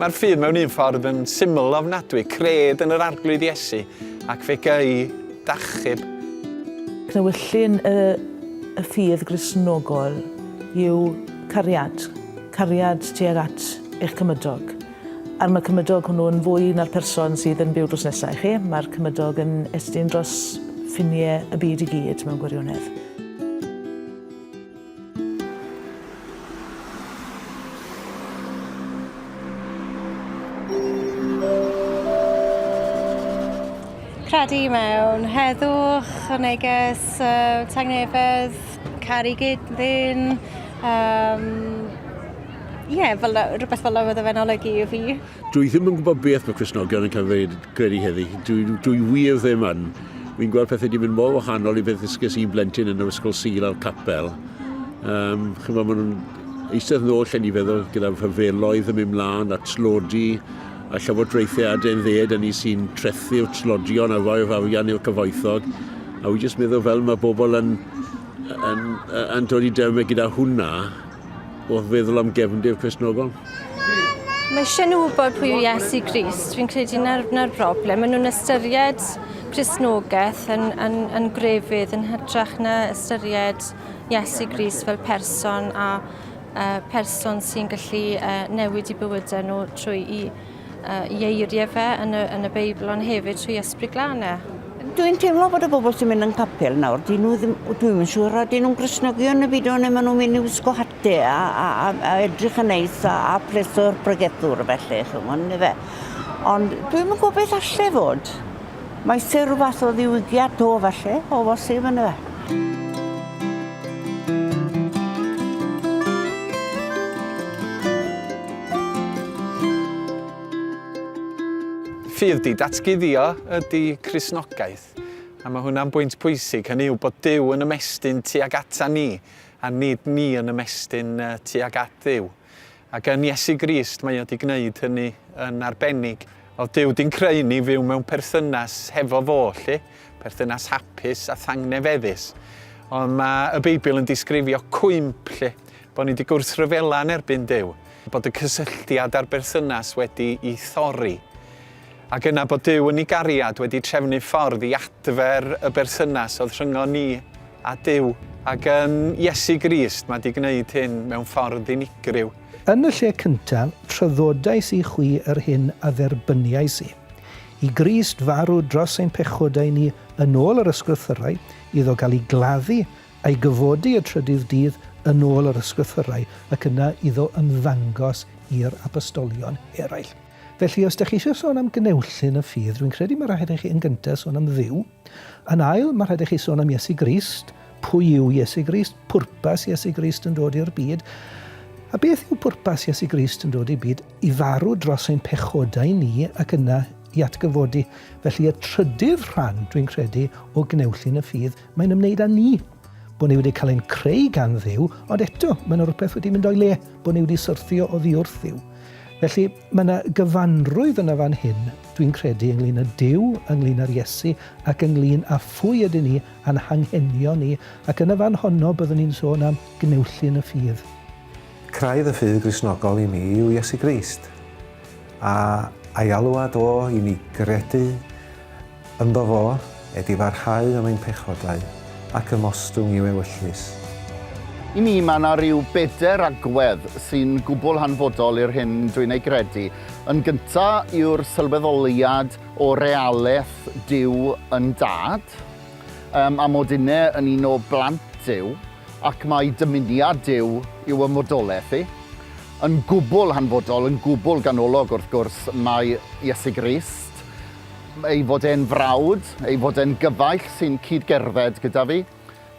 Mae'r ffydd mewn un ffordd yn syml ofnadwy, cred yn yr arglwydd Iesu ac fe gei dachub. Cnewyllyn y, y ffydd grisnogol yw cariad, cariad tuag at eich cymydog. Ar mae cymydog hwnnw yn fwy na'r person sydd yn byw drws nesa i chi, mae'r cymydog yn estyn dros ffinie y byd i gyd mewn gwirionedd. Credu mewn heddwch, y neges, uh, tangnefedd, caru gyd ddyn, um, Ie, yeah, fel, rhywbeth fel oedd e'n olygu i fi. Dwi ddim yn gwybod beth mae Cresnogion yn cael dweud credu heddi. Dwi, dwi wir ddim yn. Fi'n gweld pethau wedi mynd mor wahanol i beth ddysges i'n blentyn yn yr ysgol sil a'r capel. Um, Chyfo, maen nhw'n eistedd nôl lle ni feddwl gyda'r hyfeloedd yn mynd mlaen a tlodi a llywodraethau a den dded a ni sy'n trethu'r tlodion a roi'r arian i'r cyfoethog. A wy jyst meddwl fel mae bobl yn, yn, yn, yn dod i dermau gyda hwnna, wrth feddwl am gefndir Cresnogol? Mae eisiau nhw wybod pwy yw Iesu Grist. Fi'n credu na'r, na'r broblem. Maen nhw'n ystyried Cresnogaeth yn, yn, yn grefydd yn hytrach na ystyried Iesu Grist fel person a uh, person sy'n gallu uh, newid i bywydau nhw trwy i y eiriau fe yn y, yn y Beibl, ond hefyd trwy ysbryd glan e. Dwi'n teimlo bod y bobl sy'n mynd yn capel nawr, dyn nhw ddim, dwi'n mynd siŵr, a dyn nhw'n grisnogion y byd o'n neu maen nhw'n mynd i wisgo hate a, a, a, a edrych yn neis a, a pleso'r bregethwr felly, chymod, neu fe. Ond dwi'n mynd gwybod beth allai fod. Mae se rhywbeth o ddiwygiad to falle, o bosib yn y fe. Ffydd di datguddio ydy Cristnogaeth, a mae hwnna'n bwynt pwysig, hynny yw bod Dyw yn ymestyn tuag ata ni, a nid ni yn ymestyn tuag at Dduw. Ac yn Iesu Grist mae o 'di gneud hynny yn arbennig. Wel, Duw 'di'n creu ni fyw mewn perthynas hefo fo, 'lly. Perthynas hapus a thangnefeddus. Ond mae y Beibl yn disgrifio cwymp, 'lly. Bod ni 'di gwrthryfela yn erbyn Duw. Bod y cysylltiad a'r berthynas wedi i thorri. Ac yna bod Duw yn ei gariad wedi trefnu ffordd i adfer y berthynas oedd rhyngon ni a Duw. Ac yn Iesu Grist, mae 'di gwneud hyn mewn ffordd unigryw. Yn y lle cyntaf, traddodais i chwi yr hyn a dderbyniais i. I Grist farw dros ein pechodau ni yn ôl yr Ysgrythyrau, iddo gael ei gladdu a'i gyfodi y trydydd dydd yn ôl yr Ysgrythyrau, ac yna iddo ymddangos i'r Apostolion eraill. Felly, os dych chi eisiau sôn am gneulllun y ffydd, rwy'n credu mae rhaid i chi yn gyntaf sôn am Dduw. Yn ail, mae rhaid i chi sôn am Iesu Grist. Pwy yw Iesu Grist? Pwrpas Iesu Grist yn dod i'r byd. A beth yw pwrpas Iesu Grist yn dod i'r byd? I farw dros ein pechodau ni ac yna i atgyfodi. Felly, y trydydd rhan, dwi'n credu, o gneulllun y ffydd, mae'n ymwneud â ni. bod ni wedi cael ein creu gan ddiw, ond eto, mae yna rhywbeth wedi mynd o'i le, bod ni wedi syrthio o ddiwrth ddiw. Felly, mae yna gyfanrwydd yna fan hyn, dwi'n credu, ynglyn â Dyw, ynglyn â'r Iesu, ac ynglyn â phwy ydyn ni, a'n hanghenion ni, ac yn y fan honno byddwn ni'n sôn am gneullyn y ffydd. Craidd y ffydd Gristnogol i mi yw Iesu Grist. A a'i alwad o i ni gredu ynddo fo, e di farhau am ein pechodau, ac ymostwng i'w ewyllys. I mi, mae yna ryw bedair agwedd sy'n gwbl hanfodol i'r hyn dwi'n ei gredu. Yn gynta' yw'r sylweddoliad o realeth Duw yn Dad, yym, a mod inne yn un o blant Duw. Ac mae dymuniad Duw yw y modolaeth i. Yn gwbl hanfodol, yn gwbl ganolog, wrth gwrs, mae Iesu Grist, ei fod e'n frawd, ei fod e'n gyfaill sy'n cyd-gerdded gyda fi,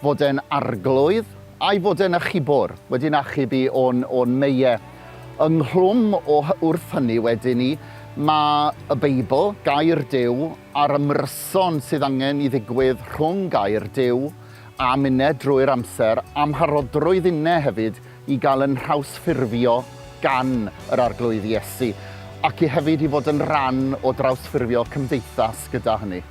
fod e'n arglwydd, a'i fod e'n achubwr, wedi'n achub i o'n, o'n meie. Ynghlwm o, wrth hynny wedyn ni, mae y Beibl, Gair Duw, a'r ymryson sydd angen i ddigwydd rhwng Gair Duw a minnau drwy'r amser, amharodrwydd innau hefyd i gael yn nhrawsffurfio gan yr Arglwydd Iesu, ac i hefyd i fod yn rhan o drawsffurfio cymdeithas gyda hynny.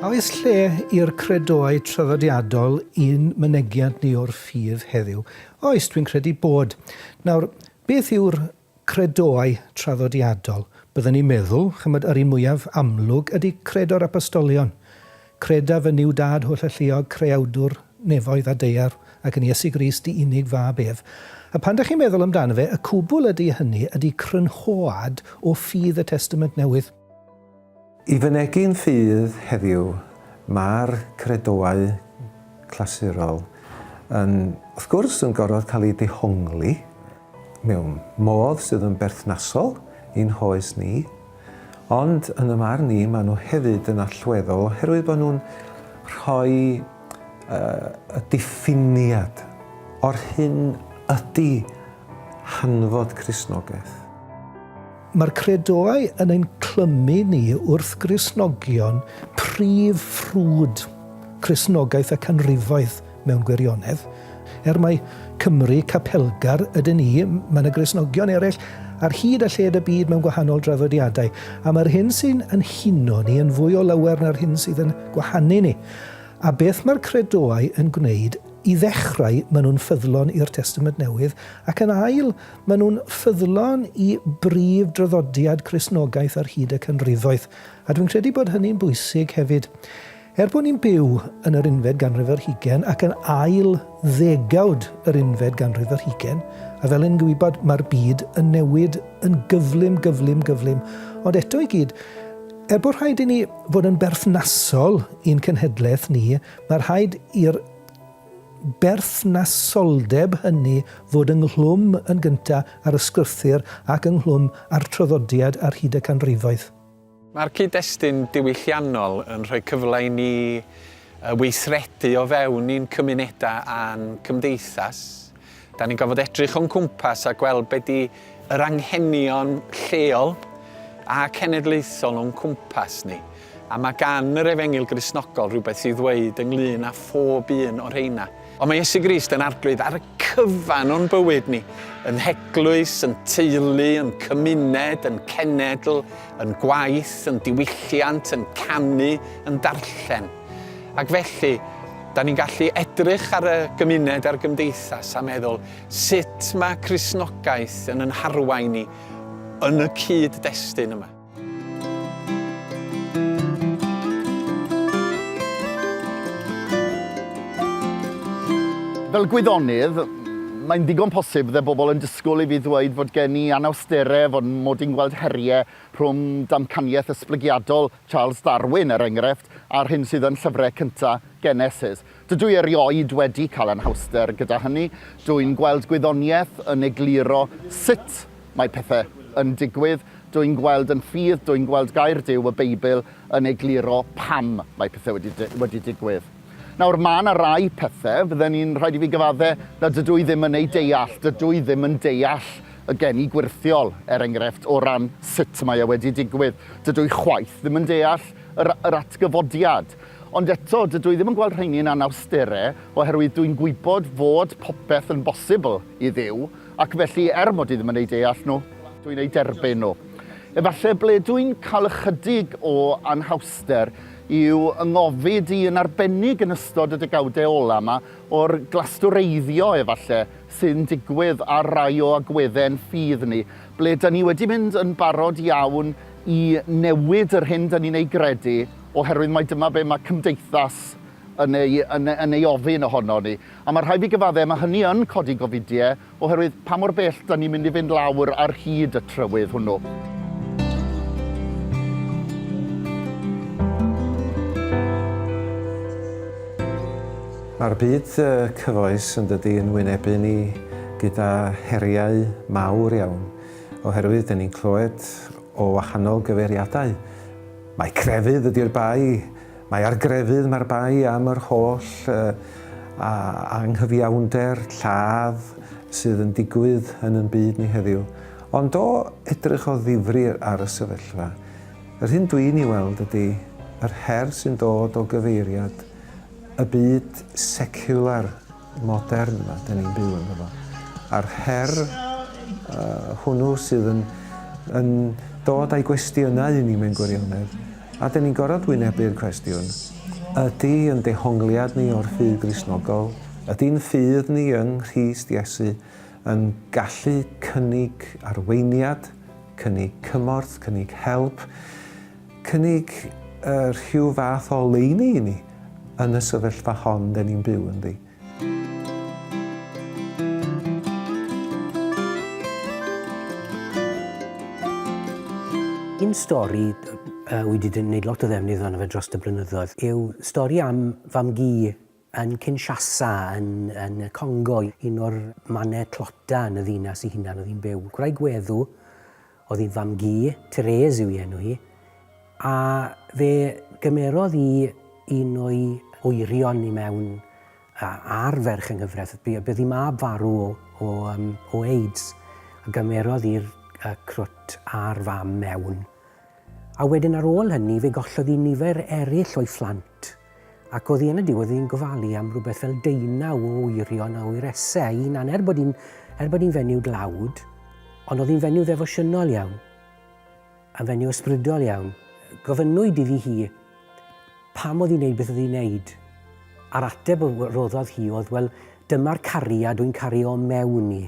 A oes lle i'r credoau traddodiadol i'n mynegiant ni o'r ffydd heddiw? Oes, dwi'n credu bod. Nawr, beth yw'r Credoau traddodiadol, bydden ni'n meddwl, ch'mod, yr un mwyaf amlwg ydy Credo'r Apostolion. Credaf yn Nuw Dad Holl-Alluog, Creawdwr nefoedd a daear, ac yn Iesu Grist, dy unig Fab ef. A phan 'da chi'n meddwl amdano fe, y cwbl ydy hynny ydy crynhoad o ffydd y Testament Newydd. I fynegi'n ffydd heddiw, mae'r credoau clasurol yn, wrth gwrs, yn gorfod cael eu dehongli mewn modd sydd yn berthnasol i'n hoes ni, ond yn y marn i maen nhw hefyd yn allweddol oherwydd bod nhw'n rhoi uh, y diffiniad o'r hyn ydy hanfod Crisnogaeth. Mae'r credoau yn ein clymu ni wrth Gristnogion prif ffrwd Cristnogaeth y canrifoedd mewn gwirionedd. Er mai Cymry capelgar ydyn ni, mae yna Gristnogion eraill ar hyd a lled y byd mewn gwahanol draddodiadau, a mae'r hyn sy'n yn huno ni yn fwy o lawer na'r hyn sydd yn gwahanu ni. A beth mae'r credoau yn gwneud? I ddechrau, maen nhw'n ffyddlon i'r Testament Newydd, ac yn ail, Maen nhw'n ffyddlon i brif draddodiad Cristnogaeth ar hyd y canrifoedd, a dwi'n credu bod hynny'n bwysig hefyd. Er bod ni'n byw yn yr unfed ganrif ar hugain ac yn ail ddegawd yr unfed ganrif ar hugain, a fel yn gwybod mae'r byd yn newid yn gyflym, gyflym, gyflym, ond eto i gyd, er bod rhaid i ni fod yn berthnasol i'n cenhedlaeth ni, mae rhaid i'r berthnasoldeb hynny fod ynghlwm yn gyntaf â'r ysgrythur ac ynghlwm â'r traddodiad ar hyd y canrifoedd. Mae'r cyd-destun diwylliannol yn rhoi cyfle i ni weithredu o fewn ein cymunedau a'n cymdeithas. Da ni'n gorfod edrych o'n cwmpas a gweld be di yr anghenion lleol a cenedlaethol o'n cwmpas ni. A mae gan yr efengyl grisnogol rhywbeth i ddweud ynglyn â phob un o'r rheina. Ond mae Iesu Grist yn arglwydd ar y cyfan o'n bywyd ni, yn heglwys, yn teulu, yn cymuned, yn cenedl, yn gwaith, yn diwylliant, yn canu, yn darllen. Ac felly, da ni'n gallu edrych ar y gymuned a'r gymdeithas a meddwl sut mae Cristnogaeth yn yn harwain ni yn y cyd-destun yma. Fel gwyddonydd, mae'n ddigon posib fydde bobl yn disgwyl i fi ddweud fod gen i anawsterau, fod mod i'n gweld heriau rhwng damcaniaeth esblygiadol Charles Darwin, er enghraifft, a'r hyn sydd yn llyfrau cyntaf Genesis. Dydw i erioed wedi cael anhawster gyda hynny. Dw i'n gweld gwyddoniaeth yn egluro sut mae pethau yn digwydd. Dw i'n gweld yn rhydd, dw i'n gweld Gair Duw, y Beibl, yn egluro pam mae pethau wedi, wedi digwydd. Nawr, mae 'na rai pethe fydden i'n rhaid i fi gyfadde na dydw i ddim yn eu deall. Dydw i ddim yn deall y geni gwyrthiol, er engrefft, o ran sut mae e wedi digwydd. Dydw i chwaith ddim yn deall yr yr atgyfodiad. Ond eto, dydw i ddim yn gweld rheini yn anawstere, oherwydd dwi'n gwybod fod popeth yn bosibl i Dduw, ac felly, er mod i ddim yn eu deall nhw, dwi'n eu derbyn nhw. Efalle ble dwi'n cael ychydig o anhawster yw yng ngofid i yn arbennig yn ystod y degawdau ola' 'ma o'r glastwreiddio efalle sy'n digwydd ar rai o agwedde' yn ffydd ni, ble 'da ni wedi mynd yn barod iawn i newid yr hyn 'da ni'n ei gredu oherwydd mai dyma be' ma' cymdeithas yn ei yn ei yn ei ofyn ohonon ni. A ma' rhai' fi gyfadde' ma' hynny yn codi gofidie Oherwydd pa mor bell dan ni'n mynd i fynd lawr ar hyd y trywydd hwnnw. Mae'r byd cyfoes yn dydy yn wynebu ni gyda heriau mawr iawn, oherwydd dyn ni'n clywed o wahanol gyfeiriadau. Mae crefydd ydy'r bai, Mae ar grefydd mae'r bai am yr holl anghyfiawnder, lladd, sydd yn digwydd yn yn byd ni heddiw. Ond o edrych o ddifri ar y sefyllfa, yr hyn dwi'n ei weld ydy yr her sy'n dod o gyfeiriad y byd seciwlar modern yma, dyn ni'n byw yn fo. A'r her uh, hwnnw sydd yn, yn dod â'i gwestiynau i ni mewn gwirionedd, a dyn ni'n gorfod wynebu'r cwestiwn, ydy yn dehongliad ni o'r ffydd grisnogol, ydy'n ffydd ni yng Nghrist Iesu yn gallu cynnig arweiniad, cynnig cymorth, cynnig help, Cynnig rhyw fath o oleuni i ni yn y sefyllfa hon 'den ni'n byw ynddi. Un stori wi 'di neud lot o ddefnydd ohono fe drost y blynyddoedd yw stori am fam-gu yn Kinshasa, yn, yn y Congo, un o'r mannau tlota yn y ddinas i hunan oedd hi'n byw. Gwraig weddw oedd hi'n fam-gu, Therese yw ei enw hi, a fe gymerodd i un o'i wyrion i mewn ar ferch yng nghyfraith. Bydd ei mab farw o, o, um, o AIDS, a gymerodd i'r uh, crwt a'r fam mewn. A wedyn ar ôl hynny, fe gollodd i nifer eraill o'i phlant. Ffit. Ac oddi yn y diwedd oedd hi'n gofalu am rhywbeth fel deunaw o wyrion a wyresau a'i hunan, er bod hi'n er bod hi'n fenyw dlawd, ond oedd hi'n fenyw ddefosiynol iawn, yn fenyw ysbrydol iawn. Gofynnwyd iddi hi pam oedd hi'n neud beth oedd hi'n neud, a'r ateb roddodd hi oedd, wel, dyma'r cariad wy'n cario mewn i.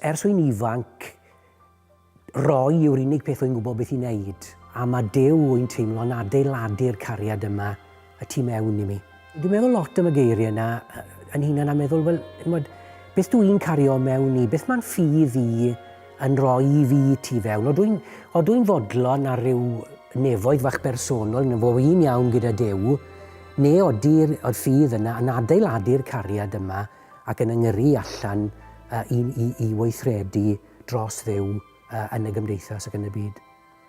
Ers wy'n ifanc, Roi yw'r unig peth wy'n gwybod beth i wneud, a mae Duw, wy'n teimlo, yn adeiladu'r cariad yma y tu mewn i mi. Dwi'n meddwl lot am y geiriau yna yn hunan a meddwl, wel, mod, beth dw i'n cario mewn i, beth mae'n ffydd i yn rhoi i fi tu fewn. Odw i'n dw fodlon ar ryw nefoedd fach bersonol yn fo un iawn gyda Duw, neu odi'r ffydd yna yn adeiladu'r cariad yma ac yn yngyrru allan uh, i, i, i weithredu dros Dduw yn y gymdeithas ac yn y byd.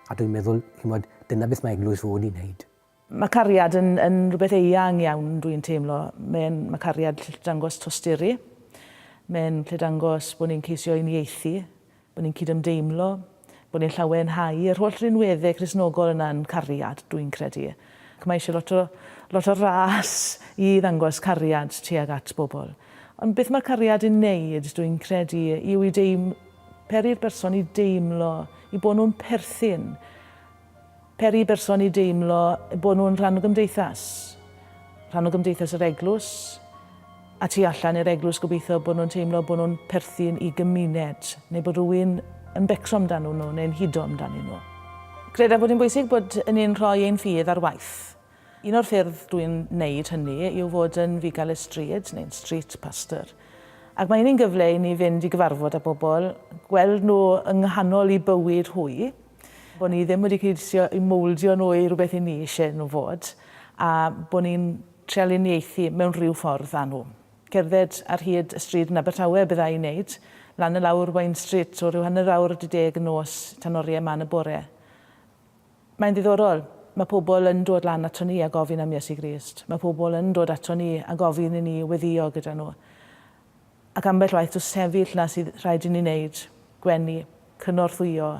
A dwi'n meddwl, chi'n gwybod, dyna beth mae eglwys fod i'n wneud. Mae cariad yn, yn rhywbeth eang iawn, dwi'n teimlo. Mae'n, mae cariad lle dangos tosturi. Mae'n lle dangos bod ni'n ceisio uniaethu, bod ni'n cydymdeimlo, bod ni'n llawenhau. Yr holl rinweddau Cristnogol yna yn cariad, dwi'n credu. Ac mae eisiau lot o, lot o ras i ddangos cariad tuag at bobl. Ond beth mae'r cariad yn neud, dwi'n credu, yw i deim- peri'r berson i deimlo i bod nhw'n perthyn, peri berson i deimlo bod nhw'n rhan o gymdeithas, rhan o gymdeithas yr eglwys, a tu allan i'r eglwys gobeithio bod nhw'n teimlo bod nhw'n perthyn i gymuned neu bod rhywun yn becso amdanyn nhw neu'n hudo amdanyn nhw. Credaf bod hi'n bwysig bod ni'n rhoi ein ffydd ar waith. Un o'r ffyrdd dw i'n wneud hynny yw fod yn fugail y stryd neu'n street pastor ac mae hynny'n gyfle i ni fynd i gyfarfod â bobl, gweld nhw yng nghanol eu bywyd hwy, bod ni ddim wedi ceisio eu mowldio nhw i rywbeth 'yn ni eisiau nhw fod a bod ni'n Trial uniaethu mewn rhyw ffordd â nhw. Cerdded ar hyd y stryd yn Abertawe bydd â i wneud, lan a lawr Wine Street o ryw hanner awr wedi deg y nos tan oriau man y bore. Mae'n ddiddorol. Mae pobl yn dod lan ato ni a gofyn am Iesu Grist. Mae pobl yn dod ato ni a gofyn i ni weddïo gyda nhw. Ac ambell waith does sefyll 'na sydd rhaid i ni wneud, gwenu, cynorthwyo,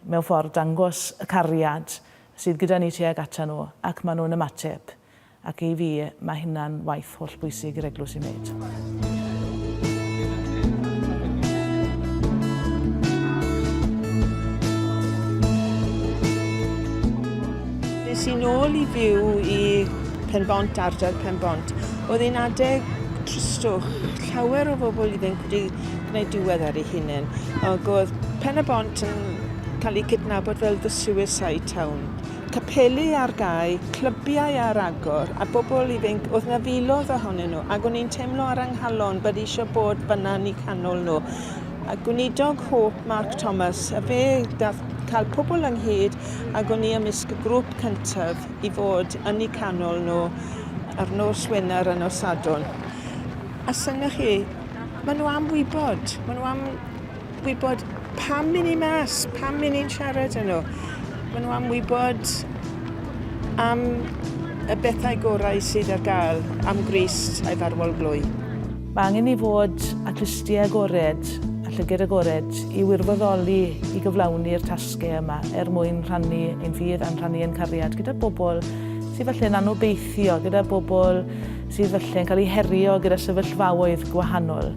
mewn ffordd dangos y cariad sydd gyda ni tuag ata nhw ac maen nhw'n ymateb. ac i fi mae hynna'n waith hollbwysig i'r eglwys i wneud. es i'n ôl i fyw i Penbont, ardal Penbont. Oedd e'n adeg tristwch, llawer o bobl iddyn wedi gwneud diwedd ar ei hunain. Ac oedd Pen y Bont yn cael ei cydnabod fel the suicide town. capeli ar gau, clybiau ar agor, a bobl ifainc, oedd 'na filoedd ohonyn nhw, ac o'n i'n teimlo ar 'y nghalon bod eisiau bod fan'na yn eu canol nhw. A gweinidog Hope Mark Thomas, a fe gath cael pobl ynghyd, ac o'n i ymysg y grŵp cyntaf i fod yn eu canol nhw ar nos Wener a nos Sadwrn. A synnoch chi, maen nhw am wybod, maen nhw am Gwybod pam i ni mas, pam i ni'n siarad â nhw. Maen nhw am wybod am y bethau gorau sydd ar gael am Grist a'i farwol glwy. Mae angen ni fod â clustiau agored a llygaid agored i wirfoddoli i gyflawni'r tasgau yma er mwyn rhannu ein ffydd a'n rhannu ein cariad gyda bobl sydd falle'n anobeithio, gyda bobl sydd falle'n cael eu herio gyda sefyllfaoedd gwahanol.